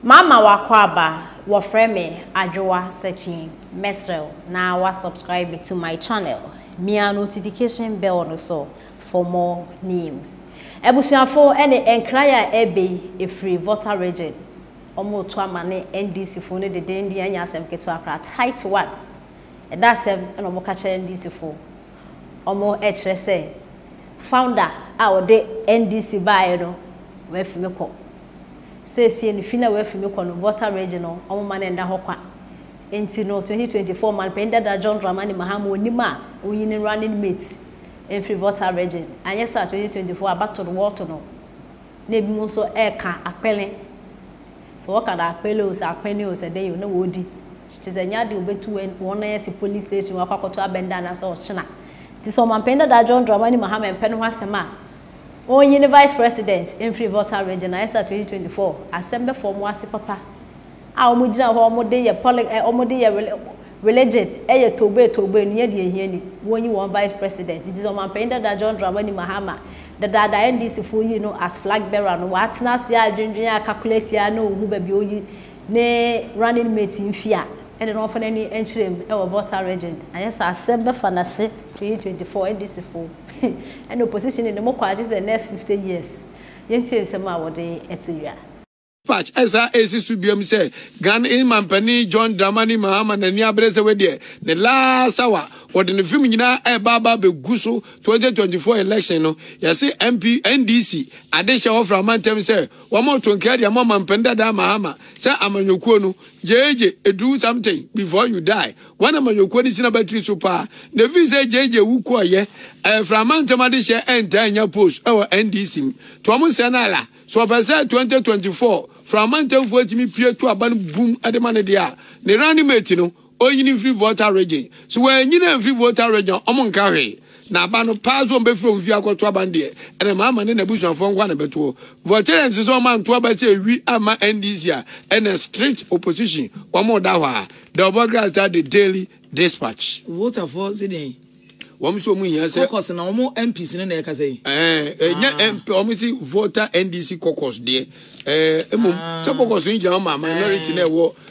Mama w'akwaaba, wɔfrɛ me Adwoa Sekyee, mɛsrɛ wo na wa subscribe to my channel, mia notification bell no so for more news. Abusuafo ɛne nkran a ɛɛba yi ɛfiri Volta Region, wɔn reto ama ne NDC fo no dedenden ɛnyɛ asɛm ketewa koraa, tight one, ɛda asɛm ɛna wɔn ka kyerɛ NDC fo, wɔn ɛkyerɛ sɛ founder a ɔde NDC baeɛ no, wafi me kɔ. Seesei no fi no a wɔafi mu kɔ no Volta Region no wɔmma no nna hɔ kwa nti no 2024 Ɔmanpanyin Dada John Dramani Mahama onnim a onyi ne running mate mfiri Volta Region anyɛ saa a 2024 abatoɔ no wɔto no na ebinom nso reka Akpele sɛ wɔka no Akpele o sɛ Akpene o sɛ dɛn o na wɔredi nti sɛ ɛnyɛ adeɛ wɔbɛtu wɔn wɔn nan asi police station wɔakɔ akɔto abɛnda anaasɛ ɔkyena nti sɛ Ɔmanpanyin Dada John Dramani Mahama mpɛ no ho asɛm a Ɔnye ne Vice President mfiri Volta Region na ESSER twenty twenty four asɛmbɛfo ɔmo ase papa a ɔmo gyina hɔ a ɔmo de yɛ poli eh ɔmo de yɛ reli religion yɛ towbee towbee enua deɛ ehia ni wɔnyi wɔn Vice President nti sɛ Ɔmanpanyin Dada John Dramani Mahama dedaada NDC foɔ yii no as flag bearer no watena ase adwendwen a calculate a na ohu baabi a oyi ne running mate mfi a ɛne no ɔmfa n'ani nkyerɛ mu wɔ Volta Region anyɛ saa asɛm bɛfa n'ase twenty twenty four NDC foɔ Ɛna opposition de ne mo kɔ agye sɛ next fifty years yɛntie nsɛm a wɔde to dwa. Patch ɛsan ɛsi so biom sɛ Ghana manpanin John Dramani Mahama n'ani abere sɛ wei deɛ ne last hour wɔde ne film nyinaa ɛɛba aba abɛgu so twenty twenty four election no yɛse MP NDC adehyɛ wɔfrɛ amantam sɛ wɔmɔto nkaa de ama ɔmanpanin dadaa Mahama sɛ amanyɔkuo no gyegye do something before you die Wɔn amanyɔkuo no sina batiri so paa na ɛfiri sɛ JJ wu kɔɔyɛ ɛɛ frama ntɛm adehyeɛ ɛntaa nya post ɛwɔ NDC mu to ɔmo sɛ no ala sɛ ɔpɛ sɛ 2024 frama ntɛmfoɔ tumi pie to aba no bum ɛde ma no deɛ a ne running mate no ɔnyini mfiri Volta region sɛ wɔanyini amfiri Volta region a ɔmo nka hwee Na aba no paa sɛ ɔmbɛfiri wɔn fie akɔto aba no deɛ, ɛna Mahama ne n'abusuafoɔ nko ara na ɛbɛtoɔ. Voltaire nte sɛ wɔn anto aba sɛ ɛwi amma NDC a ɛna strict opposition wɔn reda hɔ a, The Obɔgrass Star The Daily Dispatch. Votafoɔ se deɛn? Wɔn nso wɔn hia sɛ. Caucus na wɔn MPs no na ɛkasa yi. Ɛɛ ɛnyɛ ah. MP wɔn se voter NDC caucus deɛ ɛɛ mmom ah. sɛ caucus no gyina wɔn ma minority na ɛwɔ.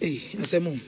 Ei asɛm o.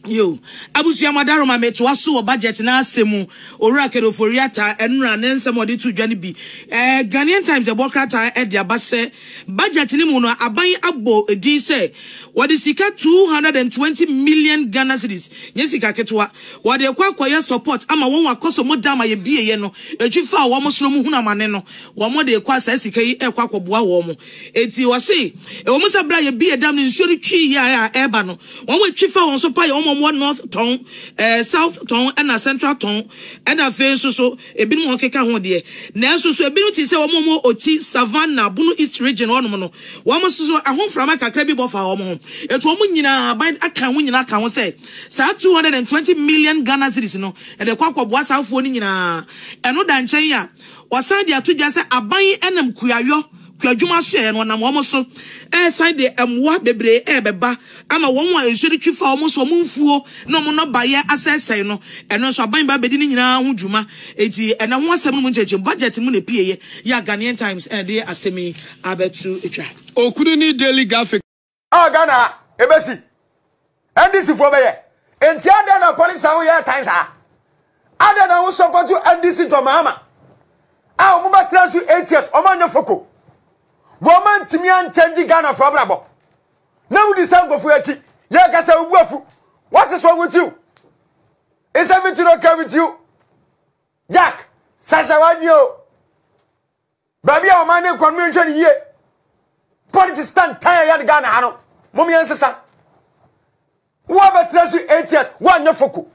Yo, abusua mo adaro ma metoa so wɔ budget no asɛm mu. Owura Kenneth Ofori-Atta nnora ne nsɛm a ɔde too dwa no bi. Eh, Ghanaian Times ɛbɔ krataa de aba sɛ, budget no mu no aban abɔ din sɛ wɔde sika 220 million Ghana cedis, nyɛ sika ketewa, wɔde rekɔ akɔyɛ support ama wɔn akɔsɔmu dam a yɛbieeɛ no, ɛtwi faa wɔn soro mu hunu amane no, wɔde rekɔ a saa sika yi rekɔ akɔboa wɔn. Enti ɔse, Ɛwɔm sɛ bere a yɛbie dam no nsuo no twi yɛ a ɛreba no, wɔn a ɛtwi fa wɔn so pa yɛ wɔn a wɔwɔ North Tɔn, eh, South Tɔn ɛna Central Tɔn, ɛna afei nso so ebinom a wɔkeka ho deɛ. Nanso nso ebinom te sɛ wɔn a wɔwɔ Oti, Savannah, Bono East Region hɔnom no, wɔn nso so ɛho mframa kakra bi bɔ faa wɔn ho. Enti wɔn nyinaa, aban akan wɔn nyinaa aka ho sɛ saa 220 million Ghana cedis no, ɛde rekɔ akɔboa saa afuo no nyinaa. Ɛno da nkyɛn a, wɔsan de ato dwa sɛ aban nam kuayɔ, twa adwuma soɛɛ no ɔnam wɔn so resan de mmoa bebree rebɛba ama wɔn a nsuo no twi fa wɔn so wɔn mfuo na wɔn nnɔbaeɛ asɛesɛe no ɛno nso aban ba bɛdi ne nyinaa ho dwuma eti ɛna ho asɛm no mu nkyɛnkyɛn budget mu na epueeɛ yɛ a Ghanaian Times ɛde asɛm yi abɛto twa. Okunini Daily Graphic. a ghana ha ebesi ndc foɔ bɛyɛ nti adɛn na polisi a woyɛ tan saa adɛn na wo sɔpɔto ndc jɔ maama a wɔn bɛtena so eight years wɔn anyɛ foko wɔn antumi ankyɛn di ghana foɔ abrabɔ na wodi sɛ nkɔfoɔ akyi yɛ kasa obu afu wɔte so wɔn tiw nsɛm ti no kɛm tiw jack sasa wadwi o. Baabi a ɔman no rekɔ no yɛnhwɛ no yie. Politics tantan a ɛyɛ no Ghana ha no, mom yɛnsesa. Woabɛtena so eight years, woanyɛ foko.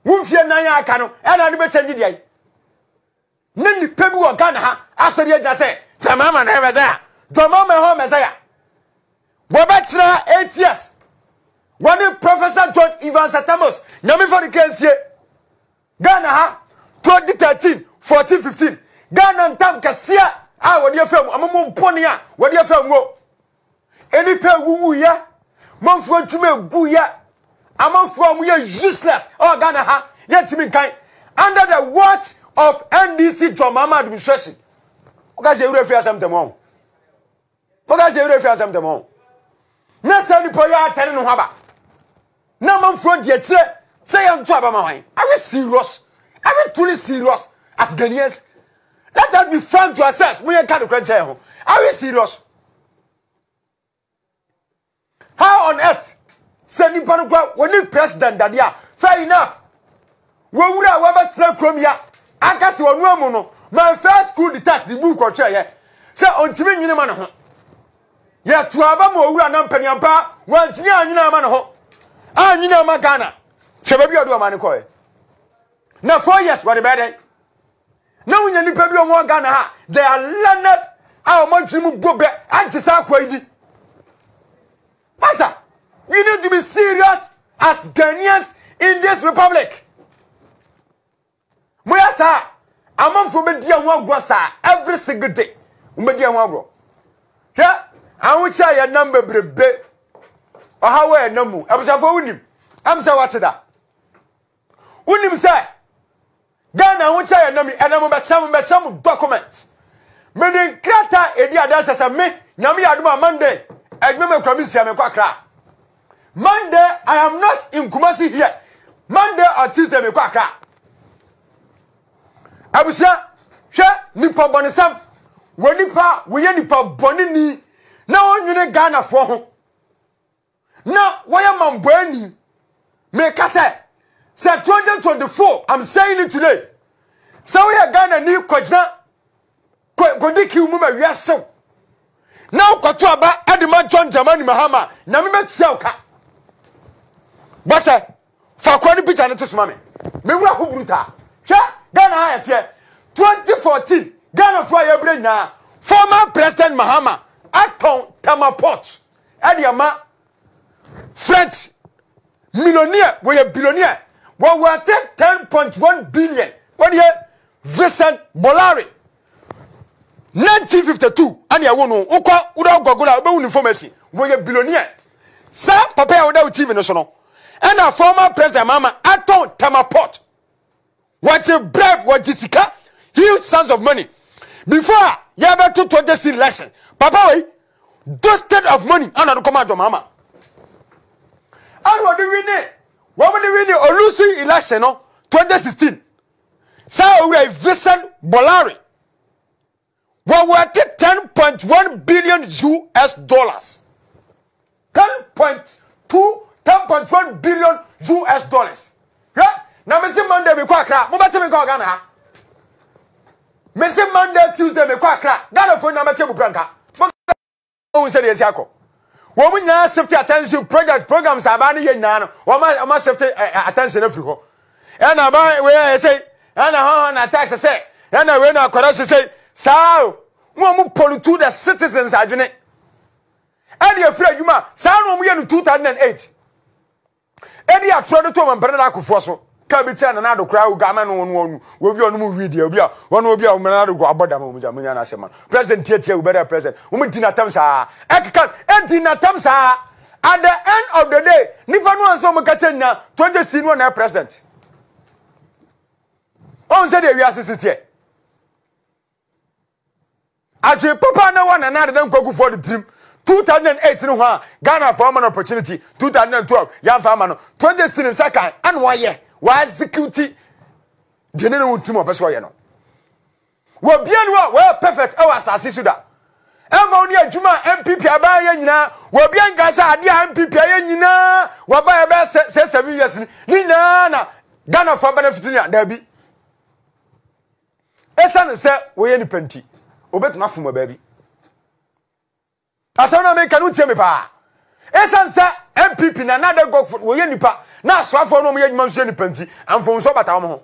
Wo mfie nan a aka no, ɛna ade bɛkyɛ nye deɛ. Ne nnipa bi wɔ Ghana ha asɔre agyina sɛ, Dwamama na ɛyɛ Messiah, Dwamama ɛhɔ Messiah. Wɔbɛtena eight years. Wɔne Professor John Evans Atamos, nyame fa no kra nsie. Ghana ha, 2013, 14, 15. Ghana ntam kɛseɛ a wɔde afɛ mu, ɔmo mu mpone a wɔde afɛ mu. Nnipa ewuwu yɛ, manfoɔ adwuma egu yɛ, amanfoɔ ɔmo yɛ useless ɛwɔ Ghana ha, yɛntumi nkan. Under the watch of NDC John Mahama administration. Wokasi ewura fi asɛm tɛm ɔn. Wɔka sɛ yɛn werɛ fi asɛm dɛm ɔn. Na saa nipa yi atɛne ne ho aba. Na amanfoɔ di akyire sɛ yɛn to aba ma wɔn. Are we serious? Are we truly serious as Ghanaians? Let us be frank to ourselves. Mo yɛn ka nokorɛ nkyɛn ho. Are we serious? How on earth? Sɛ nipa no kora wɔni president dade a, fair enough. Wɔwura a wɔbɛtena kurom ya aka sɛ wɔn amu no, my first school detached ne book ɔtwerɛ yɛ sɛ ɔntumi nwene ma ne ho. Yɛto aba ma ɔwura na mpaniampa wɔntumi anwene ama ne ho. Anwene ama Ghana. Hwɛ baabi a ɔde ɔman no kɔɛ. Na four years wɔde bɛyɛ dɛn? na wonya nnipa bi wɔn Ghana ha they are learned a wɔn adwene mu bɔ bɛ agye saa akwa yi di masa we need to be serious as Ghanaians in this republic mo yɛ saa amanfoɔ bɛ di ɛho agorɔ saa every single day wɔn bɛ di ɛho agorɔ hwɛ ahokyɛ a yɛ nam bebrebe ɔhaw a yɛ nam mu abusuafoɔ wonim ɛm sɛ wɔte da. Wonim sɛ Ghana ahokyɛ yɛ nami ɛnɛ mo bɛkyɛ mo bɛkyɛ mo document. Me de nkrata edi adanse sɛ me nyame yɛ adom a Monday adwuma me kura me nsia me kɔ akra. Monday I am not in Kumasi here. Monday or Tuesday me kɔ akra. Abusua hwɛ nipa bɔnesam wɔ nipa wɔyɛ nipa bɔne ni na wɔnwene Ghanafoɔ ho. na wɔyɛ mamboani meka sɛ sɛ 2024 i'm saying it today sɛ woyɛ ghana ni kɔgyina kɔdi kiw mu ma wiasew na wokɔto aba de ma john dramani mahama nyame bɛtua wo ka bɔhyɛ Fa akora ne picture no to so ma me. Me wura ho brutal. Hwɛ Ghana a ɛteɛ 2014 Ghana foɔ a yɛbrɛ nyinaa former president Mahama atɔn Tema port ɛde ama French millionaire wɔyɛ billionaire wɔwɔ ate 10.1 billion wɔde yɛ Vincent Bolloré 1952 ɛne ɛwo no wokɔ wodɔ gɔgoro a wobɛhu no information wɔyɛ billionaire saa papa a woda wo tv no so no ɛna former president mama atɔn tama port wɔgye bribe wɔgye sika huge sums of money before a yɛbɛto 2016 election papa wei dusted of money ana no kɔma adɔ mama ɛna ɔde wini wɔn de wini olusi election no 2016 Saa Owura yi, Vincent Bolloré, wɔ wɔte ten point one billion US dollars. Ten point two, ten point one billion US dollars. Hwɛ, na mese Monday mekɔ Accra, mobɛte me nka wɔ Ghana ha. Mese Monday, Tuesday mekɔ Accra, Ghana fo nyinaa bɛte mu kura nka. wɔn sɛ deɛ ɛsi akɔ wɔn nyinaa shift attention project programs a abaa no yɛ nyinaa no wɔn a wɔn shift eh, eh, attention afiri hɔ ɛna abaa wei ayɛ sɛ ɛna hɔn hɔn na tax sɛ ɛna wei na akɔda sɛ sɛ saa o wɔn wɔn pollute the citizens adwene ɛde afiri adwuma saa na wɔn yɛ no two thousand and eight. Ebi a turo de too Mampene ne akofoɔ so, kaa bi kyɛɛ Nana Addo koraa a ɔdwaa mɛno wɔn wɔn wɔn wie wɔn mu wie deɛ obi a wɔn obi a Nana Addo abɔ dam wɔn gya mo nya n'asɛm ma President tie tie wobɛdɛ President wɔn di n'atam saa ɛkeka edi n'atam saa at the end of the day nipa no ansa wɔn ka kyɛ nya twenty si no na President wɔn sɛ deɛ wiase si teɛ. Adwen papa na ɛwɔ Nana Addo ne Nkwagufoɔ no tirim 2008 no ho a Ghanafoɔ ama no opportunity 2012 yɛamfa ama no 2016 no nsa kan ɛna wayɛ wa execute deɛ ne ne wo tirim a ɔpɛ sɛ ɔyɛ no wɔ bia no a wɔyɛ perfect ɛwɔ asase so da ɛmfa wo ne adwuma a MPP abaa yɛ nyinaa wɔ bia nka sɛ adeɛ a MPP ayɛ nyinaa wɔba yɛ bɛyɛ sɛ seven years ne nyinaa na Ghanafoɔ benefit no a daabi Esiane sɛ wɔyɛ nnipa nti, wobetumi afom wɔ baabi. Asɛm no a meka no tie me paa. Esiane sɛ NPP na Nana Ade Gokford wɔyɛ nnipa na asoafoɔ no wɔyɛ adwuma nso yɛ nnipa nti, mfomsoɔ bata wɔn ho.